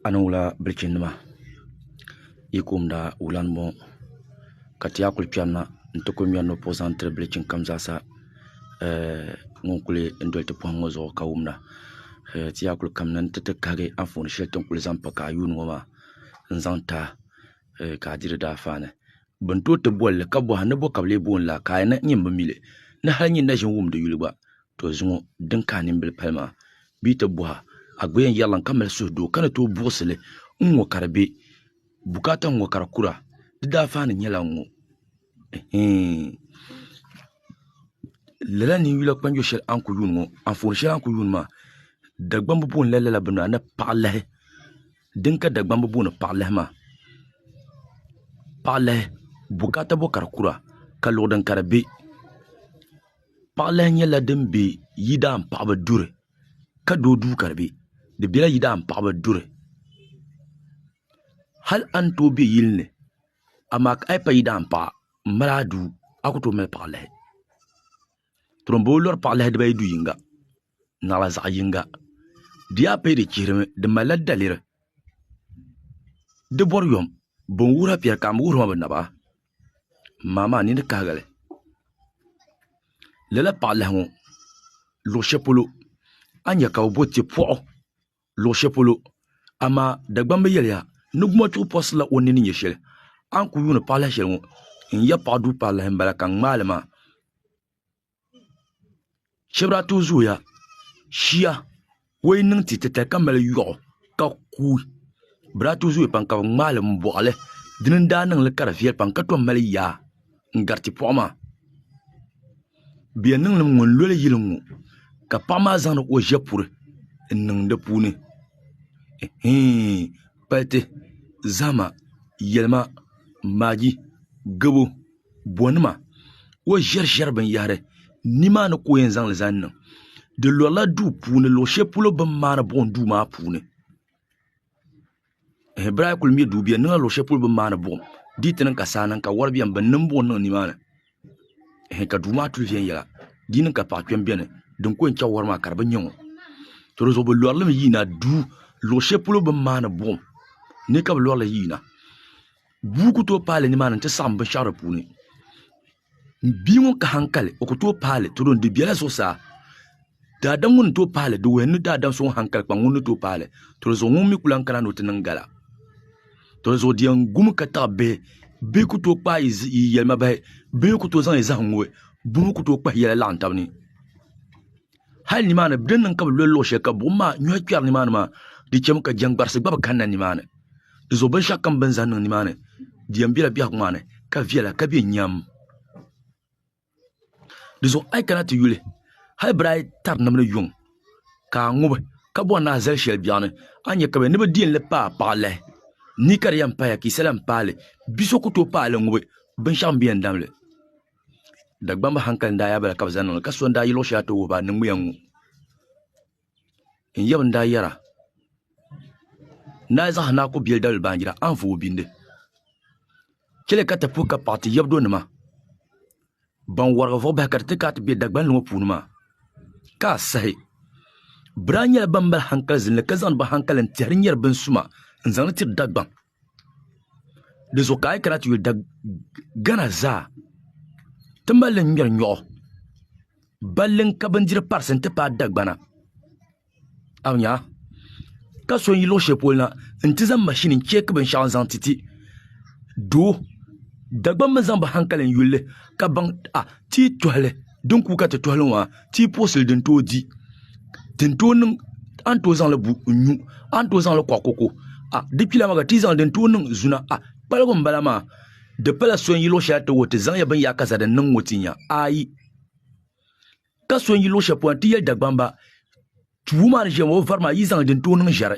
a ni wula bilichini nima yi kumda wula n boŋo ka ti yaa kuli chɛri na n ti kuli ŋmɛri nupuhi zaŋ tiri bilichini kam zaa sa ŋun kuli doli ti poham ŋo zuɣu ka wumda ti yaa kuli kanna ni ti ti kahagi Anfooni shɛli ti ni kuli zaŋ pa ka a yuundi ŋo maa n zaŋ taahi ka a diri daa faani bi ni tooi ti bolili ka bohana ni bo ka bi lee booni laa ka a yɛna nyini bi mili ni hali nyini na ʒini wumdi yuli gba to zuŋɔ din ka a nimbili pali maa bee ti bɔha a gba yɛn yɛrila n ka mali suhu doo ka ni tooi buɣisi li n ŋɔ ka di be bukaata n ŋɔ ka di kura di daafaani nyɛla n ŋɔ ɛhɛin lala ninyula kpanjo shɛli a ni ku yuun ŋɔ anfooni shɛli a ni ku yuun maa Dagbaŋ bi booni la lala bini maa ni paɣa lahi din ka Dagbaŋ bi booni paɣa lahi maa paɣa lahi bukaata bɔ ka di kura ka luɣu din ka di be Paɣalahi nyɛla din be yidaan paɣaba duri ka doo duu ka di be di bela yidaan paɣaba duri hali a ni tooi be yili ni amaa a yi pa yidaan paɣa m mali a duu a ku tooi mali paɣalahi m boo lori paɣalahi dibaayi du yinga naɣila zaɣ yinga di yaa paya di chihirimi di malila daliri di bɔri yom bɛ ni wuhira piɛri ka m bi wuhiri ma bi naba maa maa nini kahigali lala paɣa lahi ŋo luɣu shɛli polo a ni nyɛ ka bi bo tipoɣu luɣu shɛli polo amaa Dagbaŋ bi yɛliya ni gumo chuɣu purisila o ni ni nyɛ shɛli a ni ku yuundi paɣa lahi shɛli ŋo n yɛ paɣa duu paɣa lahi n bala ka n ŋmaali maa shɛbi daa tooi zooya shia o yi niŋ ti titali ka mali yoɣu ka kuui bi daa tooi zooya pam ka bi ŋmaali n boɣali dini n daa niŋli ka di viɛli pam ka tom mali yaa n gari tipoɣi maa bi yɛn niŋlimi ŋɔ n loli yili n ŋɔ ka paɣa maa zaŋdi o ʒɛpuri n niŋ di puuni kpaliti zahama yɛlima naagi gabo bonima o ʒɛriʒɛri binyahari nimaani ka o yɛn zaŋli zaŋ niŋ di lorila duu puuni luɣu shɛli polo bi ni maandi buɣum duu maa puuni bira a yi kuli ŋmɛ duu biɛni niŋla luɣu shɛli polo bi ni maandi buɣum di yi ti niŋ ka saa niŋ ka wori biɛni bi ni niŋ buɣum niŋ nimaani ka duu maa kuli viɛnyɛla di yi niŋ ka paɣa kpɛm biɛni din ko yɛn chɛŋ wori maa ka di bi nyɛ ŋɔ to dizuɣu bi lorilimi yiina duu luɣu shɛli polo bi ni maandi buɣum ni ka bi lorili yiina Bua ku tooi paai li nimaani nti saɣim binshɛɣu di puuni. Bia ŋun ka haŋkali, o ku tooi paai li tiri o ni. Di bela zuɣusaa. Daadam ŋun ni tooi paai li, di wuhi ni daadam so ŋun haŋkali kpaŋ ŋun ni tooi paai li. Tolizuɣu ŋun mi ku lan kana ni o ti niŋ gala. Tolizuɣu di yɛn gumi ka taɣi bihi. Bihi ku tooi kpaai yi yɛlimabahi. Bihi ku tooi zaŋ yi zahim ŋubi. Buhi ku tooi kpahi yɛla laɣim tab ni. hali nimaani di niŋ ka bi loli luɣu shɛli ka buɣum maa nyɔhi kpɛri nimaani maa di chɛmi ka jɛŋgbarisi gba bi kanna nimaani dinzuɣu binshɛɣu kam bin zaŋ niŋ nimaani di yɛn bɛla biɛhigu maa ni ka viɛla ka bɛ nyɛm dinzuɣu a yi kana ti yuli hali bira ayi tari ni bi ni yuŋ ka a ŋubi ka bɔri ni a zali shɛli biɛɣu ni a ni nyɛ ka bɛ ni bi deei li paai paɣa lahi ni ka di yɛn paya ka yisa lahi paai li bia so ku tooi paai li ŋubi binshɛɣu n-bi yɛn dam li Dagbamba hankali n-daa yaai ba la ka bɛ zaŋ niŋli ka so n-daa yi luɣ shɛli ti wuhi ba niŋmiya ŋ-ŋɔ. N yaba n-daa yɛra, Naai zaŋ hanaa ku biɛli dabili baanjira, a ni vo o bindi. Chɛli ka ti puhi ka paɣ ti yabdonima ban warigi vuɣ bahi ka di ti ka a ti be Dagbani ŋɔ puuni maa, ka a sahi. Bɛ daa nyɛla bɛn mali hankali zilli ka zaŋdi bɛ hankali n-tɛhiri nyari binsuma n-zaŋ li tiri Dagbaŋ. di zuɣu ka a yi kana ti yuli da gana zaa ti mali li ŋmɛri nyoɣu balli n ka bindiri parisi n ti paai dagbana a nya ka so n yi luɣu shɛli polo na n ti zaŋ mashini n cheeki binshaɣu n zaŋ ti ti doo dagbammi zaŋ bi hankali n yulli ka baŋ a ti yi tohali din ku ka ti tohili ŋɔ a tii puɣisili din tooi di din tooi niŋ a ni tooi zaŋli bu n nyu a ni tooi zaŋli kɔɣi koko a di kpila maa ka ti zaŋ din tooi niŋ zuna a kpaligu n bala maa di pala so n yi luɣ shɛli ti wuhi ti zaŋya bin yaai kasa din niŋ ŋɔ ti nya ayi ka so n yi luɣ shɛli polo ti yɛli Dagbamba wuma ni ʒiya maa o vari maa yi zaŋ din tooi niŋ ʒɛri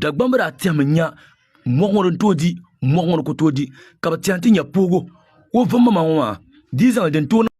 Dagbamba daa tɛhimi nya mɔɣu ŋɔ din tooi di mɔɣu ŋɔ ni ku tooi di ka bɛ tɛhi nti nya poogo o vummaŋmaŋ ŋɔ maa di yi zaŋ li din tooi niŋ